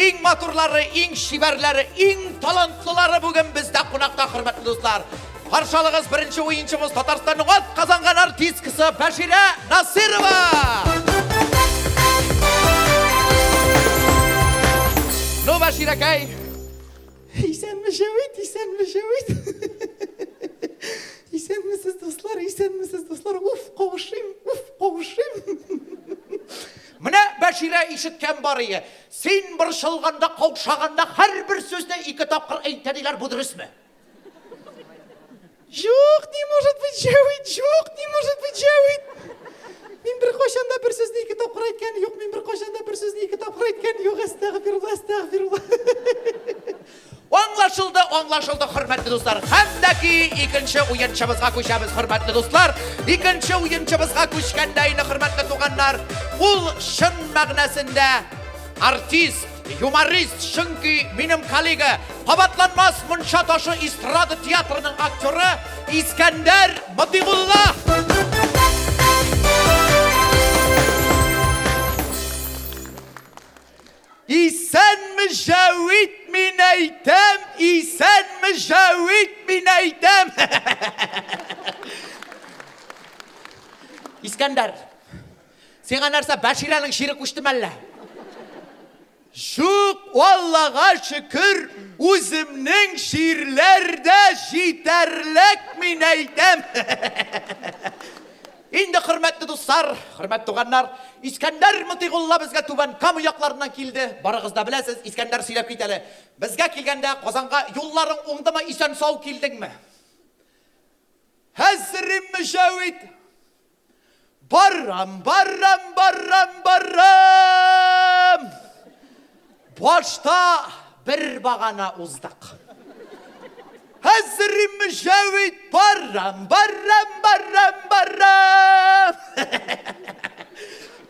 Иң матурлары, иң чибәрләре, иң талантлылары бүген бездә кунакта, хөрмәтле дуслар. Каршы алыгыз беренче уенчыбыз Татарстанның атказанган артисткасы Бәширә Насырова! Ну, Бәширәкәй! Исәнме шәвит, исәнме шәвит! Исәнмесез, дуслар, исәнмесез, дуслар! Уф, кавышыйм, уф, кавышыйм! Менә Бәширә ишеткән барые. Син борчылганда, каушаганда һәрбер сүзне ике тапкыр әйтә диләр, бу дөресме? Җук, не может быть, Җәвит, җук, не может быть, Җәвит. Мин беркайчан да бер сүзне ике тапкыр әйткән юк, мин беркайчан да бер сүзне ике тапкыр әйткән юк, әстәгъфирулла, әстәгъфирулла. Аңлашылды, аңлашылды, хөрмәтле дуслар. Хәтәки икенче уенчыбызга күчәбез, хөрмәтле дуслар. Икенче уенчыбызга күчкәндә инде, хөрмәтле туганнар, ул чын мәгънәсендә артист, юморист, чөнки минем коллега, кабатланмас мунча ташы эстрада театрының актеры Искәндәр Мотыйгулла. Исәнме Җәвит, мин әйтәм, исәнме Җәвит, мин әйтәм. Искәндәр, сиңа нәрсә, Бәширәнең чире күчте мәллә? Шук, Аллага шөкер, үземнең ширләр дә җитәрлек, мин әйтәм. Инде, хөрмәтле дуслар, хөрмәт туганнар, Искәндәр Мотыйгулла безгә Түбән Кама якларыннан килде. Барыгыз да беләсез, Искәндәр сөйләп кит әле. Безгә килгәндә Казанга юлларың уңдымы, исән-сау килдеңме? Хәзерем Мөҗәвит! Барам, барам, барам, барам! Башта бер багана уздык. Хәзер мөҗәвид барам, барам, барам, барам.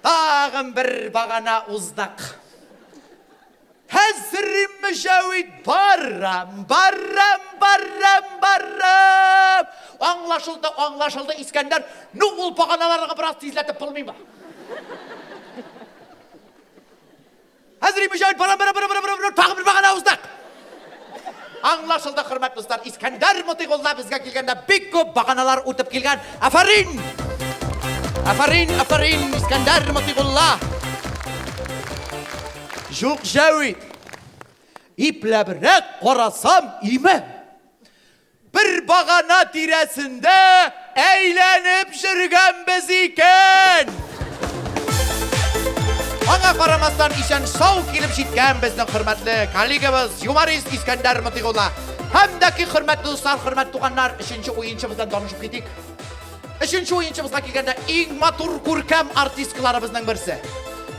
Тагын бер багана уздык. Хәзер мөҗәвид барам, барам, барам, барам. Аңлашылды, аңлашылды, Искәндәр. Ну, ул баганаларга бераз тизләтеп булмыймы? Әзри мөҗәһит бара бара бара бара бара тагы бер мәгәнә уздык. Аңлашылды, хөрмәтле дуслар. Искәндәр Мотыйгулла безгә килгәндә бик күп баганалар үтеп килгән. Афәрин! Афәрин, афәрин, Искәндәр Мотыйгулла! Җук җәвит. Ипләбрәк карасам, име. Бер багана тирәсендә әйләнеп җөргәнбез икән! Аңа карамастан исән сау килеп җиткән безнең хөрмәтле коллегабыз юморист Искәндәр Мотыйгулла һәм дәки хөрмәтле дуслар, хөрмәт туганнар, өченче уенчыбыздан танышып китик. Өченче уенчыбызга килгәндә иң матур күркәм артисткаларыбызның берсе.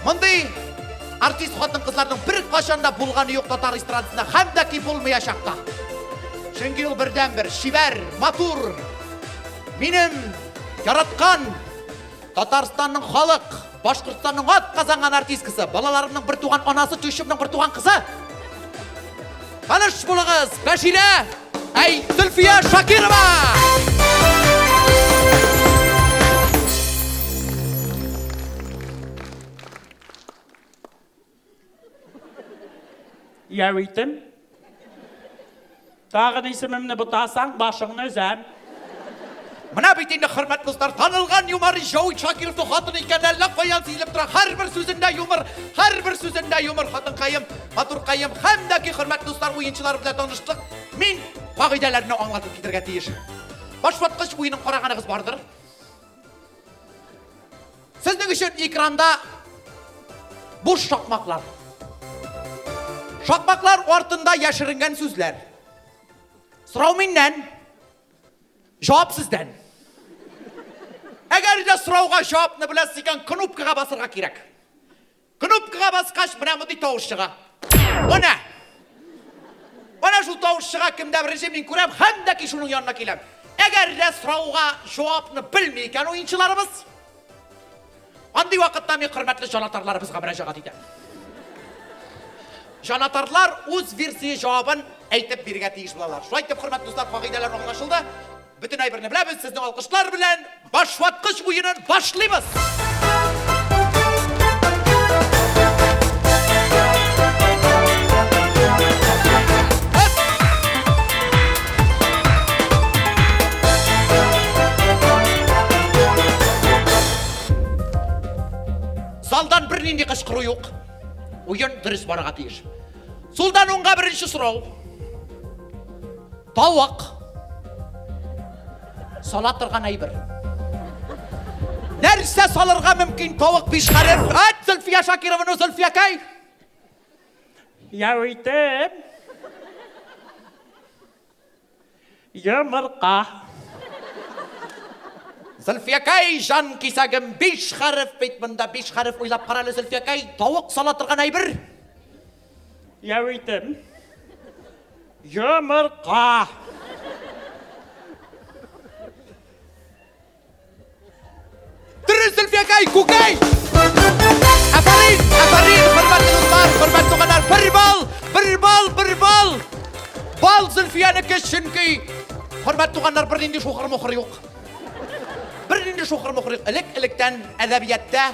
Мондый артист хатын кызларның бер кашанда булганы юк татар эстрадасында һәм дә ки булмаячак та. Чөнки ул бердән бер шибәр, матур. Минем яраткан Татарстанның халык Башкортстанның ат казанган артисткасы, балаларымның бер туган анасы Тюшевның бер туган кызы. Ханыш булыгыз, Бәширә, әй, Зөлфия Шакирова! Яу итем. Тагын исемемне бутасаң, башыңны өзәм. Менә бит инде хөрмәт дуслар, танылган юмор Җау Шакиров хатын икән, әллә каян сизелеп тора. Һәрбер сүзендә юмор, һәрбер сүзендә юмор хатынкаем, матуркаем һәм дә ки хөрмәт дуслар уенчылар белән таныштык. Мин кагыйдәләрне аңлатып китергә тиеш. Башваткыч уенын караганыгыз бардыр. Сезнең өчен экранда буш шакмаклар. Шакмаклар артында яшеренгән сүзләр. Сорау миннән, җавап сездән. Әгәр дә сорауга җавапны беләсез икән, кнопкага басырга кирәк. Кнопкага баскач, менә мондый тавыш чыга. Менә! Менә шул тавыш чыга, кемдә беренче мин күрәм, һәм дә ки шуның янына киләм. Әгәр дә сорауга җавапны белми икән уенчыларыбыз, андый вакытта мин хөрмәтле җанатарларыбызга мөрәҗәгать итәм. Җанатарлар үз версия җавабын әйтеп бирергә тиеш булалар. Шулай итеп, хөрмәтле дуслар, кагыйдәләр аңлашылды. Бөтен әйберне беләбез, сезне алкышлар белән башваткыч уенын башлыйбыз! Залдан бер нинди кычкыру юк. Уен дөрес барырга тиеш. Сулдан уңга беренче сорау. Тавык. Сала торган әйбер. Нәрсә салырга мөмкин тавык бишхәрер? Ат Зөлфия Шакированы Зөлфия кай? Я үйтем. Йомырка. Зөлфия кай жан кисәгем биш хәреф бит монда биш хәреф уйлап карале Зөлфия кай тавык сала торган әйбер. Яуитем. Йомырка. Дөрес, Зөлфиякай, күкәй! Афарин, афарин, хөрмәтле дуслар, хөрмәтле туганнар, бер бал, бер бал, бер бал! Бал Зөлфиянеке, чөнки, хөрмәтле туганнар, бер нинди шухыр-мухыр юк. Бер нинди шухыр-мухыр юк. Элек-электән әдәбиятта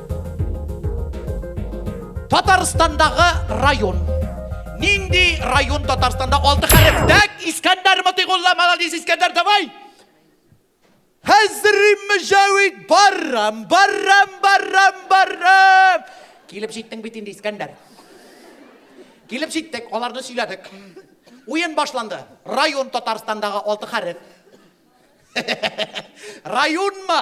Татарстандагы район. Нинди район Татарстанда алты хәреф? Дәк, Искәндәр Мотыйгулла, молодец, Искәндәр, давай! Хәзрим Мөҗәвид, баррам, баррам, баррам, баррам! Килеп җиттең бит инде, Искәндәр. Килеп җиттек, аларны сөйләдек. Уен башланды. Район Татарстандагы алты хәреф. Районмы?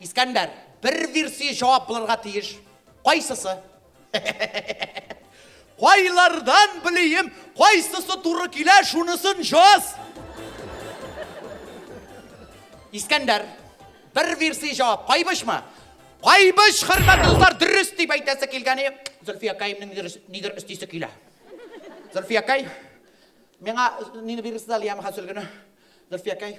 Искәндәр, бер версия җавап булырга тиеш. Кайсысы? Кайлардан белием, кайсысы туры килә, шунысын җаз! Искәндәр, бер версия җавап, кайбышмы? Кайбыш, хөрмәтле дуслар, дөрес дип әйтәсе килгәне, Зөлфия Каимның нидер өстисе килә. Зөлфия Кай, миңа нине бирерсез әле ямаха сөлгене? Зөлфия Кай.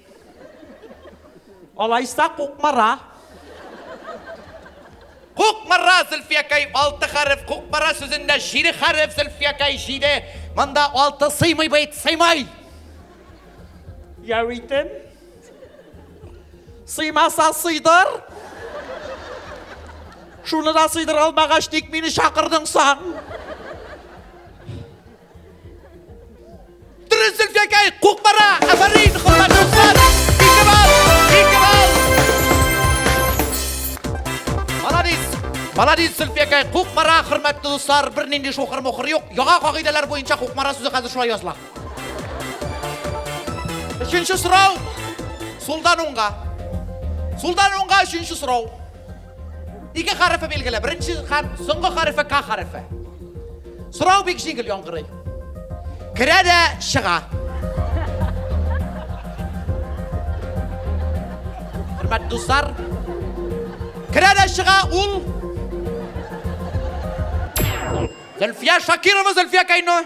Алайса Кукмара. Кукмара, Зөлфиякәй, алты хәреф. Кукмара сүзендә җиде хәреф, Зөлфиякәй, җиде. Монда алты сыймый бит, сыймый. Яуитем. Сыймаса сыйдыр. Шуны да сыйдыр алмагач, ник мине чакырдың соң? Маладис Зөлфиякай, Кукмара, хөрмәтле дуслар, бер нинди шухыр мухыр юк. Яңа кагыйдәләр буенча Кукмара сүзе хәзер шулай языла. Өченче сорау. Сулдан уңга. Сулдан уңга өченче сорау. Ике хәрефе билгеле. Беренче хәреф, соңгы хәрефе К хәрефе. Сорау бик җиңел яңгырый. Керә дә чыга. Хөрмәт дуслар, керә дә чыга ул Зөлфия Шакирова, Зөлфия Кайно.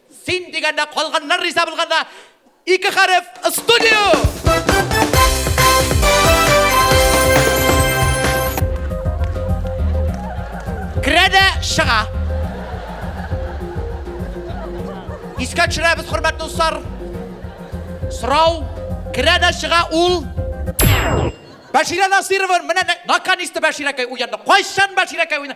Син дигәндә калганнар риза булганда ике хәреф студио! Керә дә чыга. Искә төшерәбез, хөрмәтле дуслар. Сорау керә дә чыга ул Бәширә Насирова, менә нә- наканисты Бәширәкәй уянды. Кайчан Бәширәкәй уйна?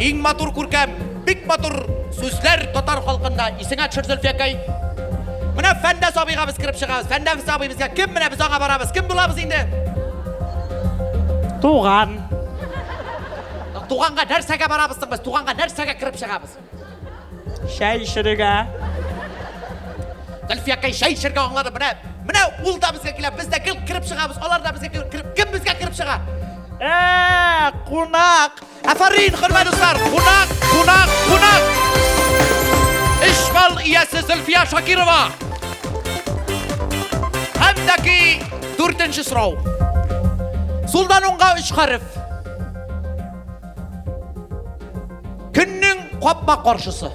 Иң матур күркәм, бик матур сүзләр татар халкында. Исеңә төшер, Зөлфиякәй. Менә Фәндәс абыйга без кереп чыгабыз. Фәндәс абый безгә кем? Менә без аңа барабыз. Кем булабыз инде? Туган. Туганга нәрсәгә барабыз соң без? Туганга нәрсәгә кереп чыгабыз? Чәй эчерергә. Гөлфиякәй чәй эчәргә аңлады. Менә, менә ул да безгә килә. Без дә гел кереп чыгабыз. Алар да безгә килеп кереп, кем безгә кереп чыга? Ә, кунак. Афарин, хөрмәт дуслар. Кунак, кунак, кунак. Эш бал иясе Зөлфия Шакирова. Һәм дә ки дүртенче сорау. Сулдан уңга өч хәреф. Көннең капма каршысы.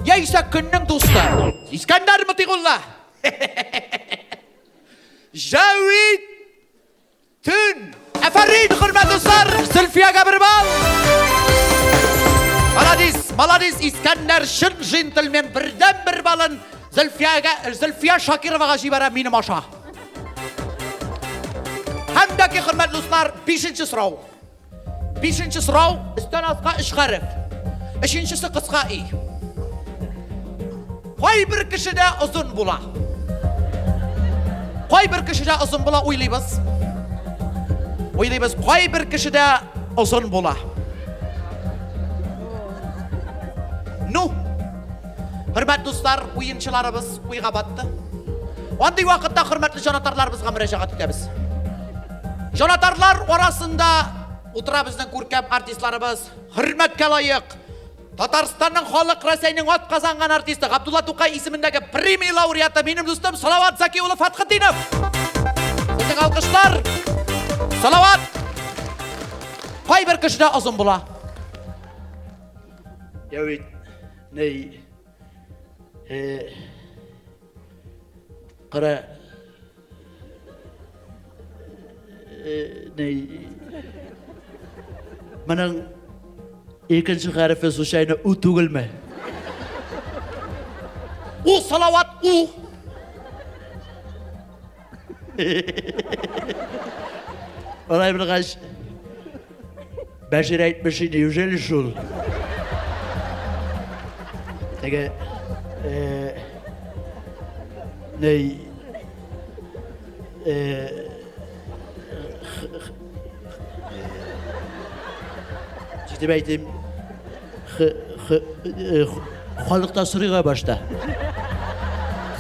Яисә көннең дусты. Искәндәр Мотыйгулла. Җәвид Төн. Әфәрин, хөрмәт дуслар, Зөлфиягә бер бал. Маладис, маладис, Искәндәр чын джентльмен, бердән бер балын Зөлфиягә, Зөлфия Шакировага җибәрә минем аша. Һәм дәки хөрмәт дуслар, 5 сорау. Бишенче сорау, өстән аска өч хәреф. Өченчесе кыска и. Кайбер кешедә озын була. Кайбер кешедә озын була уйлыйбыз. Уйлыйбыз, кайбер кешедә озын була. Ну, хөрмәт дуслар, уенчыларыбыз уйга батты. Андый вакытта хөрмәтле җанатарларыбызга мөрәҗәгать итәбез. Җанатарлар арасында утыра безнең күркәм артистларыбыз, хөрмәткә лаек, Татарстанның халык Рәсәйнең ат казанган артисты, Габдулла Тукай исемендәге премия лауреаты, минем дустым Салават Заки улы Фатхетдинов. Безнең алкышлар. Салават! Кайбер кешедә озын була. Я ведь, ней, э, кара, Моның икенче хәрефе случайно у түгелме? У салават у. Алай булгач, Бәшир әйтмеши, неужели шул? Теге... Э, ней... Э, Җитеп әйтим. Э, халыкта сорыйга башта.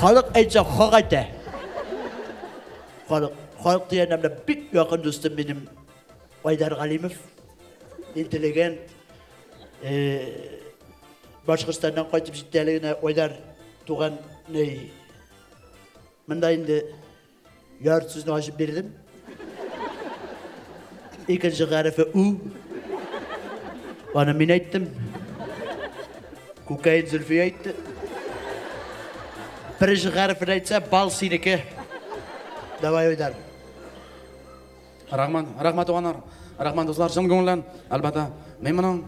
Халык әйтсә, хак әйтә. Халык, халык дигән бик якын дустым минем Айдар Галимов, интеллигент, Башкортстаннан кайтып җитте әле генә Айдар туган ней. Монда инде яр сүзне ачып бирдем. Икенче гарифе у. Аны мин әйттем. Күкәй Зөлфи әйтте. Беренче гарифен әйтсә, бал синеке. Давай, Айдар. Рахман, рахмат туганнар, рахман дуслар, чын күңелдән, әлбәттә. Мин моның,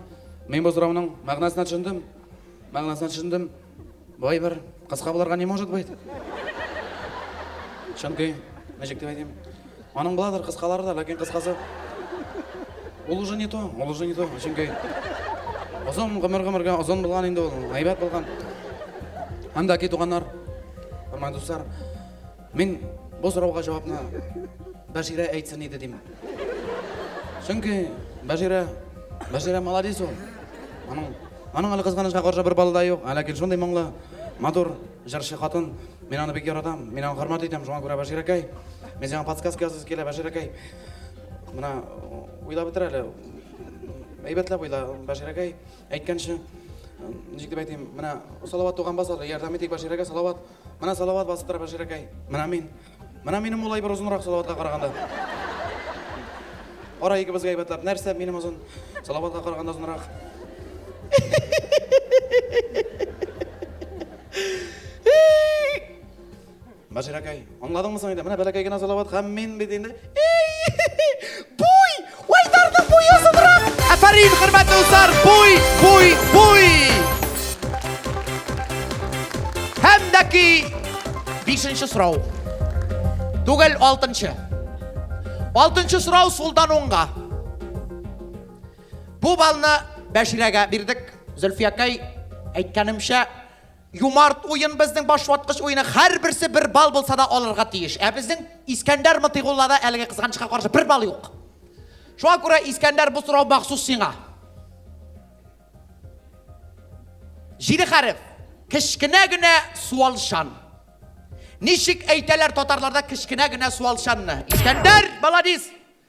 мин бу сорауның мәгънәсенә төшендем. Мәгънәсенә төшендем. Бу әйбер кыска булырга не может быть. Чөнки, ничек дип әйтим, аның буладыр кыскалары да, ләкин кыскасы ул уже не то, ул уже не то. Чөнки озын гомер гомергә озын булган инде ул, әйбәт булган. Анда ки туганнар, хөрмәтле дуслар, Мин бу сорауга җавапны Бәширә әйтсен иде дим. Чөнки Бәширә, Бәширә молодец ул. Аның, аның әле кызганычка каршы бер балы да юк, ә ләкин шундый моңлы, матур җырчы хатын. Мин аны бик яратам, мин аны хөрмәт итәм, шуңа күрә Бәширәкәй, мин сиңа подсказка ясыйсы килә, Бәширәкәй. Менә уйлап бетер әле. Әйбәтләп уйла, Бәширәкәй, әйткәнче, ничек дип әйтим, менә Салават туганбасар, ярдәм итик Бәширәгә, Салават. Менә салават басып тора Бәширәкәй. Менә мин. Менә минем улай бер озынрак салаватка караганда. Кара икебезгә әйбәтләп. Нәрсә минем озын? Салаватка караганда озынрак. Бәширәкәй, аңладыңмы соң инде? Менә бәләкәй генә салават һәм мин бит инде. Буй! Уйдарның буе озынрак! Әфәрин, хөрмәтле дуслар, буй, буй, буй! Һәм дә ки бишенче сорау. Түгел, алтынчы. Алтынчы сорау сулдан уңга. Бу балны Бәширәгә бирдек. Зөлфиякәй әйткәнемчә, Юмарт уен, безнең башваткыч уены, һәрберсе бер балл булса да алырга тиеш. Ә безнең Искәндәр Мотыйгуллада әлеге кызганычка каршы бер балл юк. Шуңа күрә Искәндәр бу сорау махсус сиңа. Җиде хәреф. Кечкенә генә суалчан. Ничек әйтәләр татарларда кечкенә генә суалчанны? Искәндәр, баладис!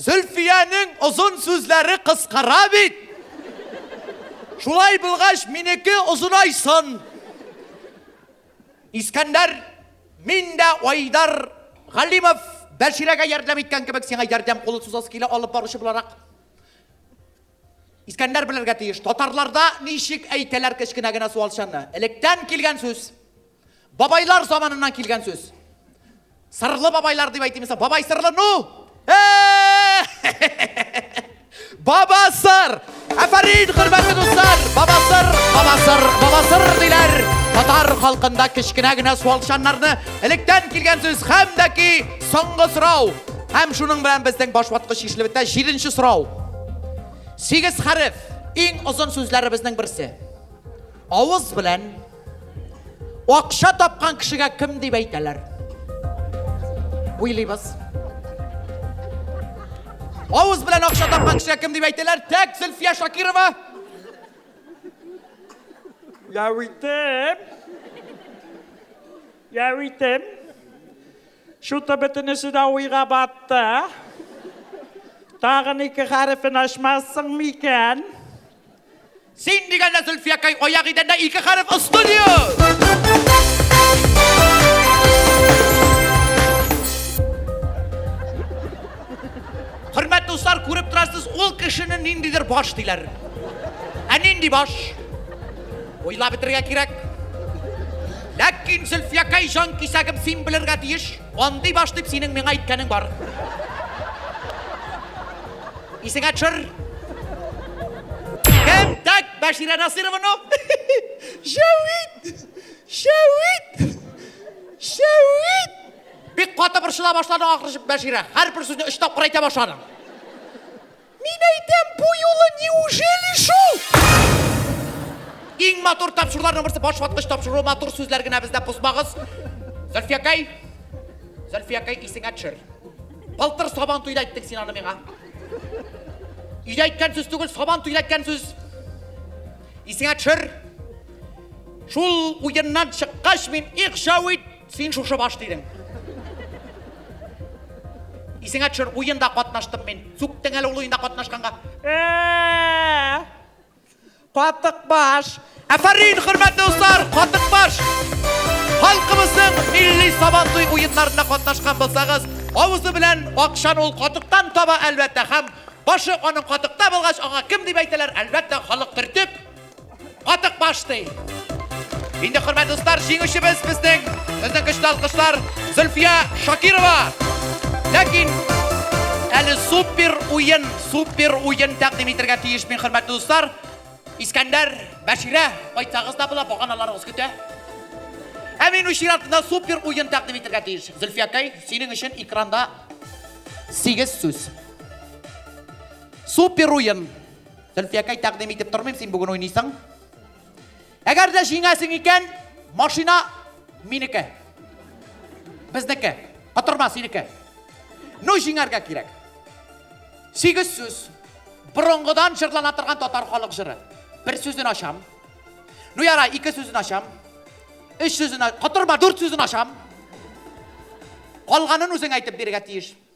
Зөлфиянең озын сүзләре кыскара бит! Шулай булгач, минеке озынайсын! Искәндәр, мин дә Айдар Галимов, Бәширәгә ярдәм иткән кебек, сиңа ярдәм кулы сузасы килә, алып баручы буларак. Искәндәр белергә тиеш, татарларда ничек әйтәләр кечкенә генә суалчанны? Электән килгән сүз. Бабайлар заманыннан килгән сүз. Сырлы бабайлар дип әйтим исә, бабай сырлы, ну! Баба сыр! Әфәрин, хөрмәтле дуслар! Баба сыр, баба сыр, баба сыр диләр. Татар халкында кечкенә генә суалчаннарны электән килгән сүз һәм дә ки соңгы сорау. Һәм шуның белән безнең башваткыч ишлебетә җиденче сорау. Сигез хәреф, иң озын сүзләребезнең берсе. Авыз белән Акча тапкан кешегә кем дип әйтәләр? Уйлыйбыз. Авыз белән акча тапкан кешегә кем дип әйтәләр? Тәк Зөлфия Шакирова. Яуитем. Яуитем. Шуты бөтенесе дә уйга батты. Тагын ике хәрефен ачмассың микән? Син дигәндә Зөлфиякәй аяк идәндә ике хәреф Студио! Хөрмәт дуслар, күреп торасыз, ул кешене ниндидер баш диләр. Ә нинди баш? Уйлап бетерергә кирәк. Ләкин, Зөлфиякәй җанкисәгем, син белергә тиеш. Андый баш дип синең миңа әйткәнең бар. Исеңә төшер. Кем? Так, Бәширә Насыйровану. Шәвит! Шәвит! Шәвит! Бик каты борчыла башладың ахры Бәширә. Һәрбер сүзне өч тапкыр әйтә башладың. Мин әйтәм, бу юлы неужели шул? Иң матур тапшыруларның берсе баш ваткыч тапшыру, матур сүзләр генә бездә бозмагыз. Зөлфиякәй, Зөлфиякәй исеңә төшер. Былтыр сабан туйда әйттең син аны миңа. Өйдә әйткән сүз түгел, сабан туйда әйткән сүз. Исеңә төшер. Шул уеннан чыккач мин их җавит Син шушы баш тирең. Исеңә төшер, уенда катнаштым мин. Сүктең әле ул уенда катнашканга. Ә-ә-ә! Катык баш! Әфәрин, хөрмәтле дуслар, катык баш! Халкыбызның милли сабантуй уеннарында катнашкан булсагыз, авызы белән акчаны ул катыктан таба, әлбәттә, һәм башы аның катыкта булгач, аңа кем дип әйтәләр, әлбәттә, халык төртеп, Атык башты. Инде хөрмәтле дуслар, җиңүчебез безнең безнең көчле алкышлар Зөлфия Шакирова. Ләкин әле супер уен, супер уен тәкъдим итәргә тиеш мин хөрмәтле дуслар. Искәндәр, Бәширә, кайтсагыз да була, баганаларыгыз көтә. Ә мин үз чиратымда супер уен тәкъдим итәргә тиеш. Зөлфиякәй, синең өчен экранда 8 сүз. Супер уен. Зөлфиякәй, тәкъдим итеп тормыйм, син бүген уйныйсың. Әгәр дә җиңәсең икән, машина минеке. Безнеке. Котырма синеке. Ну, җиңәргә кирәк. Сигез сүз. Борынгыдан җырлана торган татар халык җыры. Бер сүзен ачам. Ну, яра, ике сүзен ачам. Өч сүзен, котырма, дүрт сүзен ачам. Калганын үзең әйтеп бирергә тиеш.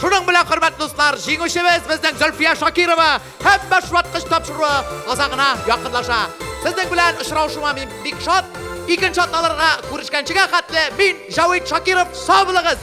Шуның белән, хөрмәтле дуслар, җиңүчебез безнең Зөлфия Шакирова һәм башваткыч тапшыруы азагына якынлаша. Сезнең белән очрашуыма мин бик шат. Икенче атналарга күрешкәнчегә хәтле мин Җавит Шакиров, сау булыгыз!